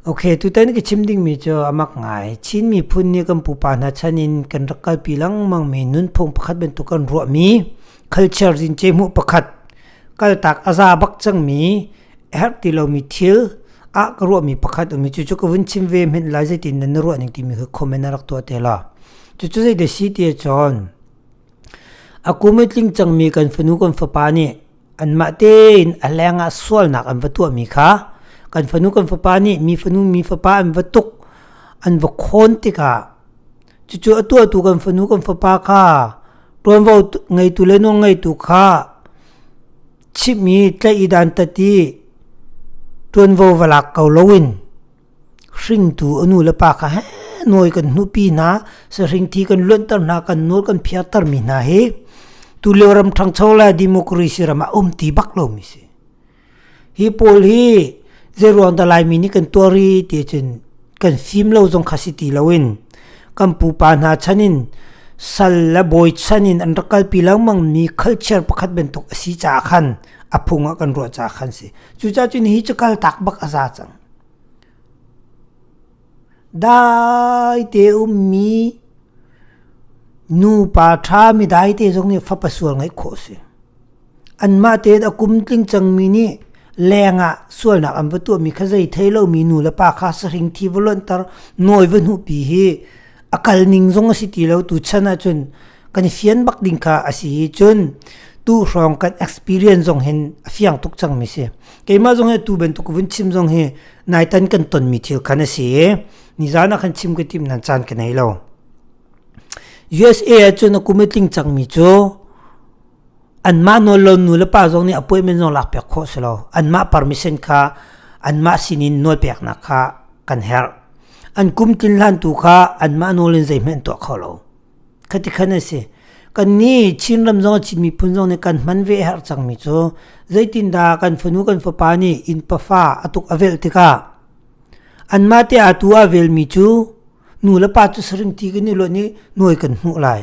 Okay, tutan ka chim dingmi cu a mak ngai. Chin miphun nih kan pupa hna chan in kan rak kalpi lengmangmi nunphung pakhat bantuk kan ruahmi culture zincei hmuh pakhat kaltak a za bak cangmi a herh ti lomi thil ah ka ruahmi pakhat um i cucu ka vun chim ve hmenh lai zeitin nan na ruah ning timi khi comment a rak tuah te la. Cucu zei da si ti cun a kum i tling cangmi kan fanu kan fapa nih anmah tein a hleng ah sualnak an va tuahmi kha kan fanu kan fapa nih mi fanu mi fapa an va tuk an va khawn tikah cucu a tuahtu kan fanu kan fapa kha ṭuanvo ngeitu le nawl ngeitu kha chimhmi tlaih i dan tati ṭuanvo va lak ko loin Hringtu a nulepa kha heh nawi kan hnupi hna sahringthi kan luanter hna kan nawl kan phiartermi hna hi tulio ram ṭhangcho le democracy ram ah um ti bak lomi si. Hi pawl hi zeiruang dah Laimi nih kan tuar i tiahcun kan fim lo zong kha si ti loin kan pupa hna chanin sal le bawi chanin an rak kalpi lengmangmi culture pakhat bantuk a si caah khan a phung ah kan ruah caah khan si. Cucacun hi cu kaltak bak a za cang. Daite ummi nupa ṭha mi daite zong nih fapa sual ngeih khawh a si. Anmah tein a kum tling cangmi nih leng ah sualnak an va tuahmi kha zei thei lomi nu le pa kha sahring thi va luanhter nawi va hnuhpi hi a kal ning zong a si ti lo tu chan ah cun kan fian bak ding kha a si i cun tu hrawng kan experience zong hin a fiang tuk cang mi si keimah zong hi tu bantuk vun chim zong hi nai tan kan ton mi thil khan a si ni zan ah khan chim ka tim nan chan ka nei lo USA ah cun a kum tling cang mi cu anmah nawllo nu le pa zong nih appointment zong lak piak khawh si lo anmah permission kha anmah sin in nawl peknak kha kan herh an kum tlin hlan tu kha anmah nawl in zeihmanh tuah kho lo khati khan a si kan ni chinram zong chin miphun zong nih kan hman ve har cangmi cu zeitindah kan fanu kan fapa nih inn pafa atuk avelh tikah anmah te atu avelmi cu nu le pa cu saring ti kan i lonh i nuai kan hmuh lai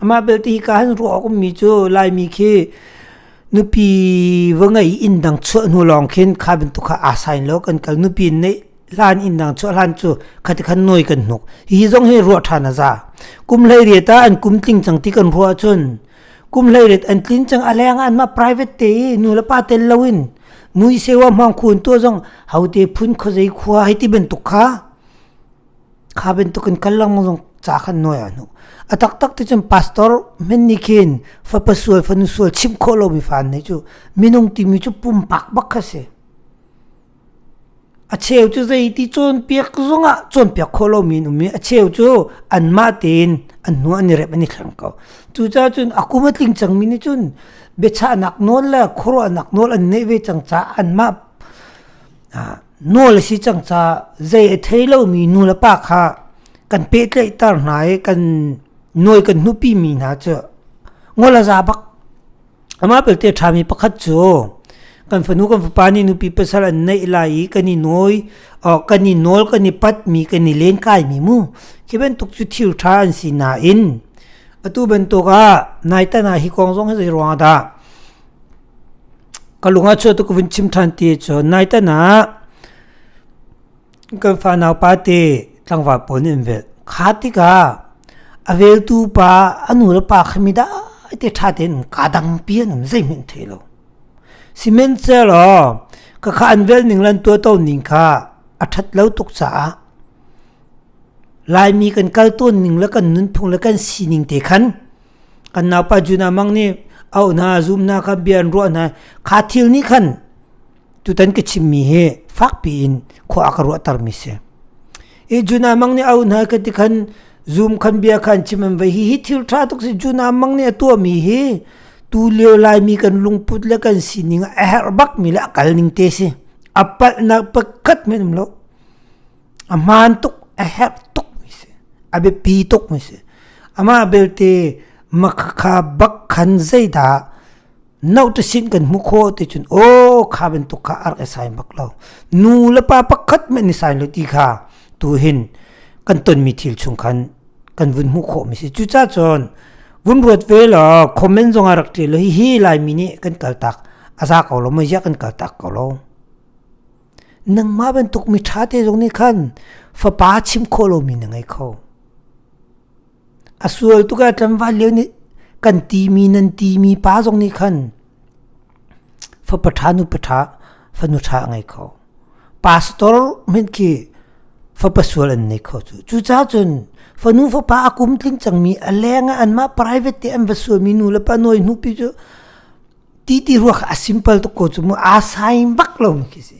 Amah belte hi ka han ruah awk ummi cu Laimi khi nupi va ngei inn dang chuah hnu lawng khin kha bantuk kha aa sain lo kan kal nupi in neih hlan inn dang chuah hlan cu khati khan nawi kan hnuk hihi zong hi ruah ṭhan a za kum hleiriat ah an kum tling cang ti kan ruah ahcun kum hleiriat an tlin cang a leng ah anmah private te i nu le pa tel lo in nu i sewa hmang khun tu zong hote phun khawzei khua hei ti bantuk kha kha bantuk in kal lang zong ca khan nuai a nu a taktak ti cun pastor men nih khin fapa sual fanu sual chim khawh lomi fan ne cu minung timi cu pumpak bak kha si a cheu cu zeiti cawnpiak zongah cawnpiak khawh lomi in um i a cheu cu anmah tein an hnu an i rep an i thleng ko cucaah cun a kum a tling cangmi nih cun biachahnak nawl le khuaruahnak nawl an neih ve cang caah anmah Nawl a si cang ca zei a thei lomi nulepa kha kan pehtlaihter hna i kan nawi kan hnupi mi hna cu ngol a za bak. Amah belte ṭhami pakhat cu kan fanu kan fapa nih nupi pasal an neih lai i kan i nawi kan i nawl kan i patmi kan i len kaimi mu khi bantuk cu thil ṭha an si nain atu bantuk ah nai tan ah hi kong zong hi zeiruang ah dah ka lung a chuah tu ka vun chim ṭhan ti cun nai tan ah kan fa nau pa te tlangval pawl nih an vel kha tikah a veltu pa a nu le pa khami dai te ṭha tein ka dang pi an um zeihmanh thei lo sihmanhsehlaw ka kha an vel ning lan tua to ning kha a ṭhat lo tuk caah laimi kan kal tawn ning le kan nunphung le kan sining te khan kan naupa juna mang nih au hna zum hna kha bia an ruah hna kha thil nih khan tutan ka chimmi hi fakpi in khua ka ruahter mi si i juna mang nih au hna ka ti khan zum khan bia khan chim an vai hi hi thil tha tuk si juna mang nih a tua mi hi tu leo lai mi kan lungput le kan sining a herh bak mi le a kal ning te si a palh nak pakhat men um lo a hmaan tuk a herh tuk mi si a biapi tuk mi si amah belte makhakha bak khan zeidah no to sin kan hmu kho ti cun o kha bantuk kha ar e sai bak lo nu le pa pakhat me ni sai lo ti kha tu hin kan ton mi thil chung khan kan vun hmu kho mi si cu cha chon vun ruat ve lo comment zong a rak ṭe lo hi hi lai mi nih kan kal tak a za ko lo ma ya kan kal tak ko lo Nangmah bantuk miṭha te zong nih khan fapa chim khawh lomi na ngei kho. A sual tuk ah tlangval lio nih kan timi nan timi pa zong nih khan fapa ṭha nupa ṭha fanu ṭha a ngei kho. Pastor hmanh khi fapa sual an nei kho cu. Cucaah cun fanu fapa a kum tling cangmi a leng ah anmah private te an va sualmi nu le pa nawi hnupi cu ti ti rua kha a simple tuk ko cu mu aa saim bak lo mi khi si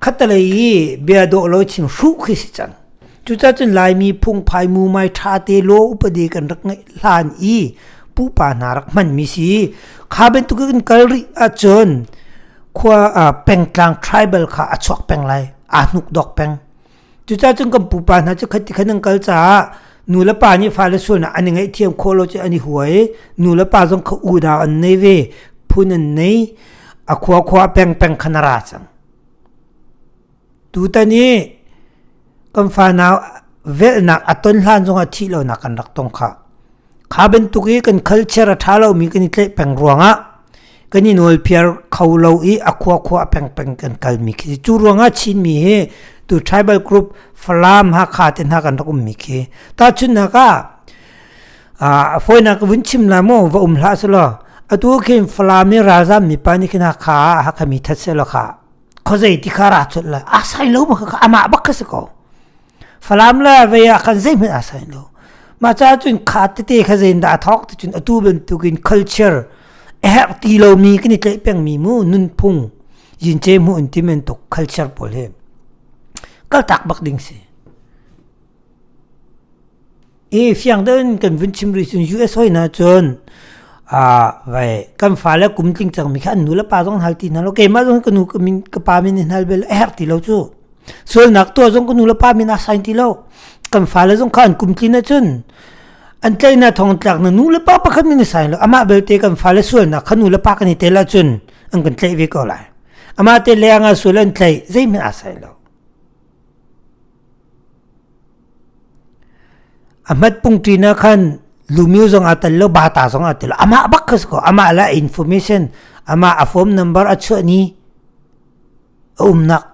khatalei i bia dawh lo chin hru khi si cang cucacun laimi phungphai mu mai ṭha te lo upade kan rak ngeih hlan i pupa hna rak hman mi si kha bantuk in kal rih ahcun khua pengtlang tribal kha a chuak peng lai aa hnuk dok peng Cuca cun kan pupa hna cu khat khat an kal caah nu le pa nih fale sualnak an i ngaihthiam khawh lo cu an i huai. Nu le pa zong kha unau an nei ve, phun an nei. A khua khua peng peng khan a ra cang. Tutan i kan fanau velhnak a ton hlan zongah thih lonak kan rak tong khah. kha bantuk i kan culture a ṭha lomi kan i tleih peng ruangah kan i nawlpiar kho lo i a khua khua a peng peng kan kalmi khi cu ruangah Chinmi hi tu tribal group Falam Hakha te hna kan rak ummi khi tahchunhnak ah a foinak vun chim la mu va um hlah su law atu khin Falam i ralzam mipa nih khin Hakha Hakha mi that se lo kha khozei ti kha ra chut la a sai lo ma kha amah bak kha si ko Falam le vei ah khan zeihmanh a sai lo. Mah caah cun kha tete kha zeindah a thawk ti cun atu bantukin culture a herh ti lomi kan i tleih pengmi mu nunphung yince mu in ti men tuk culture pawl hi kaltak bak ding si. i fiang ten kan vun chim rih cun US hoi na cun a vai kan fa le kum tling cang mi kha an nu le pa zong hal ti hna lo keimah zong ka nu ka min ka pa min hal bel a herh ti lo cu sualnak tuah zong ka nu le pa min a sign ti lo kan fa le zong kha an kum tlin na cun an tlai na thong tlak na nu le pa pakhat min a sign lo ama belte kan fa le sualnak kha nu le pa kan i tel cun an kan tlai ve ko lai ama te le anga sual an tlai zei min a sign lo a hmat pungṭi na khan lumio zong a tel lo bata zong a tel lo amah bak ka ko amah la information amah a form number a chuah ni a umnak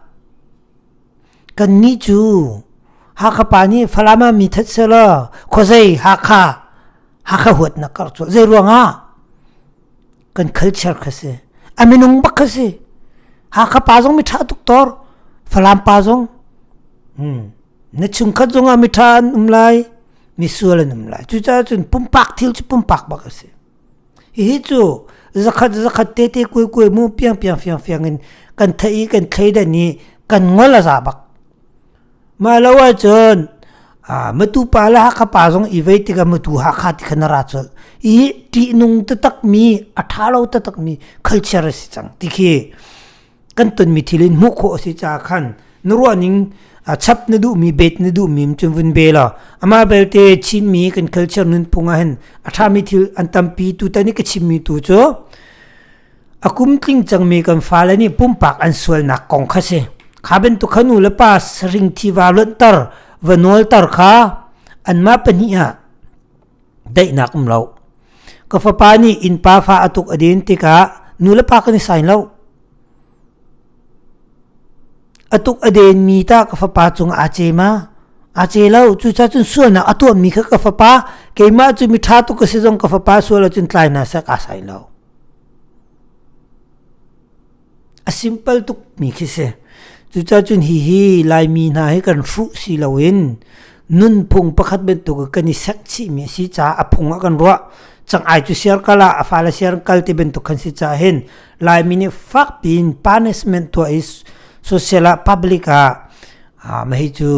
kan ni cu hakha pa ni falama mi that sela khozei hakha hakha huat na kar chu zei ruanga kan culture kha si a minung bak kha si hakha pa zong mithra tuk tor falam pa zong hmm na chungkhat zong ah mithra an um lai misual an um lai cu ca cun pumpak thil cu pumpak bak a si hi cu zakhat zakhat te te kue kue mu piang piang fiang fiang in kan thai kan thlei da ni kan ngol a za bak Mah lo ahcun matu pa le Hakha pa zong i vei tikah matu Hakha ti kha na ra colh i ṭihnung taktakmi a ṭha lo taktakmi culture a si cang ti khi kan tonmi thil in hmuh khawh a si caah khan na ruahning chap na duhmi bet na duhmi cun vun be law amah belte Chinmi kan culture nunphung ah hin a ṭhami thil an tampi tutan i ka chimmi tu cu A kum tling cangmi kan fale nih pumpak an sualnak kong kha si. Kha bantuk kha nu le pa saring tiva luanhter, va nawlter kha anmah pahnih ah daihnak um lo. Ka fapa nih innpa fa a tuk a din tikah nu le pa kan i sain lo. A tuk a denmi ta ka fapa cung aa ce ma? A ce lo, cuca cun sualnak a tuahmi kha ka fapa, keimah cu mi ṭha tuk ka si zong ka fapa sual cun tlai na sak aa sain lo. A simpal tukmi khi si. Cucacun hihi Laimi hna hi kan hruh si loin nunphung pakhat bantuk kan i sek chihmi a si caah a phung a kan ruah. Cang ai cu siar kal ah a fale siar kal ti bantuk kan si caah hin Laimi nih fak piin punishment tuah i social ah public ah ah mahi cu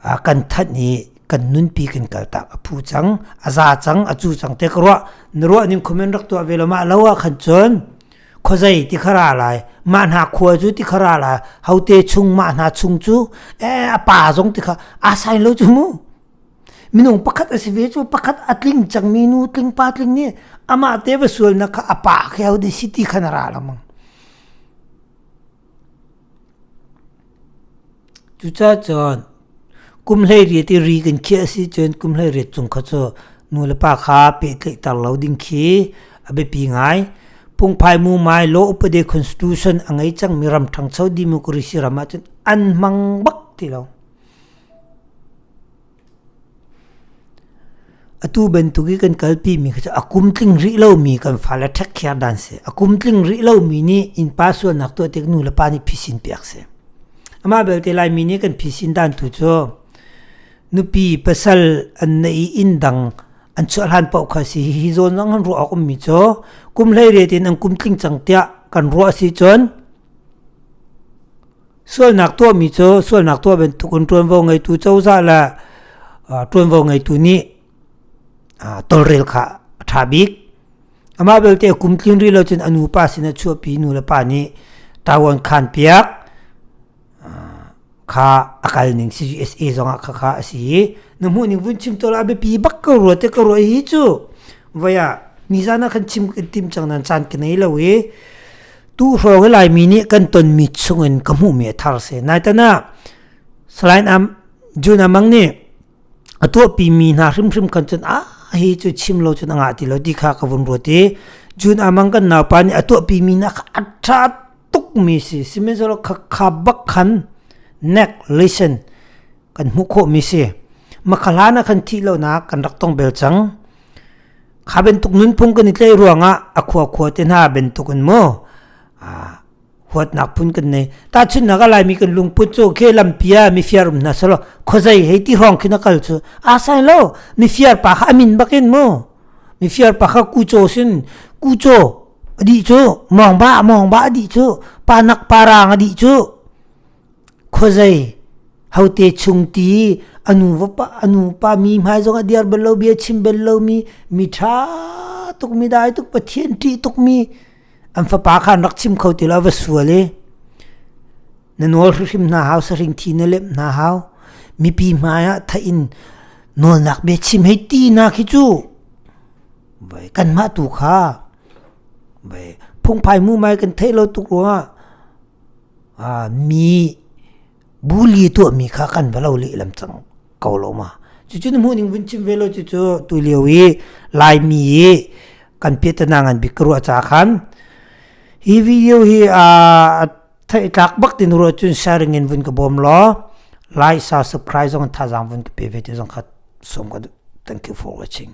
ah kan thanh i kan nunpi kan kaltak a phu cang a za cang a cu cang te ka ruah na ruah ning khomen rak tuah ve lo ma lo ah khan chon khozai ti khara lai ma hna khua cu ti khara lai hote chung ma hna chung cu e a pa zong ti kha a sign lo chu mu minung pakhat a si ve chu pakhat a tling chang mi nu tling pa tling ni ama te va sual na kha a pa khe ho de si ti khana ra lamang Cucacun kum hleiriat i ri kan khiah a si cun kum hleiriat cung kha cu nu le pa kha pehtlaihter lo ding khi a biapi ngai. Pungphai mumai Law Upade Constitution a ngei cangmi ram ṭhangcho democracy ram ahcun an hmang bak ti lo. Atu bantuk i kan kalpimi kha cu a kum tling rih lomi kan fale ṭhekhiar dan si. A kum tling rih lomi nih innpa sualnak tuah tik nu le pa nih phisin piak si. Amah belte Laimi nih kan phisin dan tu cu nupi pasal an neih i inn dang an chuah hlan paoh kha si. Hi zawn zong an ruah awk ummi cu kum hleiriat in an kum tling cang tiah kan ruah si cun Sualnak tuahmi cu sualnak tuah bantuk in ṭuanvo ngeitu cozah le ṭuanvo ngeitu nih tolrel kha a ṭha bik. Amah belte a kum tlin rih lo cun a nupa sinah a chuahpi i nu le pa nih ṭavuan khaan piak. kha a kal ning CGSA zongah khakha a si i na hmuh ning vun chim tola biapi bak ka rua te ka rua hi cu vaya nizana khan chim kan tim chang nan chan ka nei lo i tu hrawng lai mi nih kan ton mi chungin ka hmuh mi a thar se nai tana salain am juna mang nih a tuahpi mi hna hrimhrim kan cun a hi cu chim lo cun a ngah ti lo ti kha ka vun ruat i jun amang kan naupa nih a tuahpi mi hna kha a tha tuk mi si sihmanhsehlaw kha kha bak khan nek listen kan hmuh khawh mi si makhahla na khan thih lo nak kan rak tong bel cang kha bentuk nunphung kan i tlei ruangah a khua khua te hna bentuk in mu huatnak phun kan nei tahchunnak a laimi kan lungput cu ke lampi ah mifir um hna selo khozai hei ti hrawng khin akal cu a sai lo mifir pa kha amin bakin mu mifir pa kha kucho sin kucho adi cu mongba mongba adi cu panak parang adi cu khozai hote chung ti anu va pa anu pa mi hmai zong a diar bel lo bia chim bel lo mi mi tha tuk mi dai tuk pathian ti tuk mi an fapa kha an rak chim kho ti lo va sual i na nawl hrim hna hau saring thi na lem hna hau mipi hmaiah tha in nawlnak be chim hei ti na khi chu vai kanmah tu kha vai phungphai mu mai kan thei lo tuk ruangah a mi Buli tuahmi kha kan va lo lehlam cang ko lo ma. Cucun hmuhning vun chim ve lo cucu tu lio i Laimi i kan pietanang ngan bik ka ruah ca khan hi video hi a thei tlak bak tin ruah cun sharing in vun ka bawm law like sa subscribe zong thazang vun ka pe ve ti zong kha som ka thank you for watching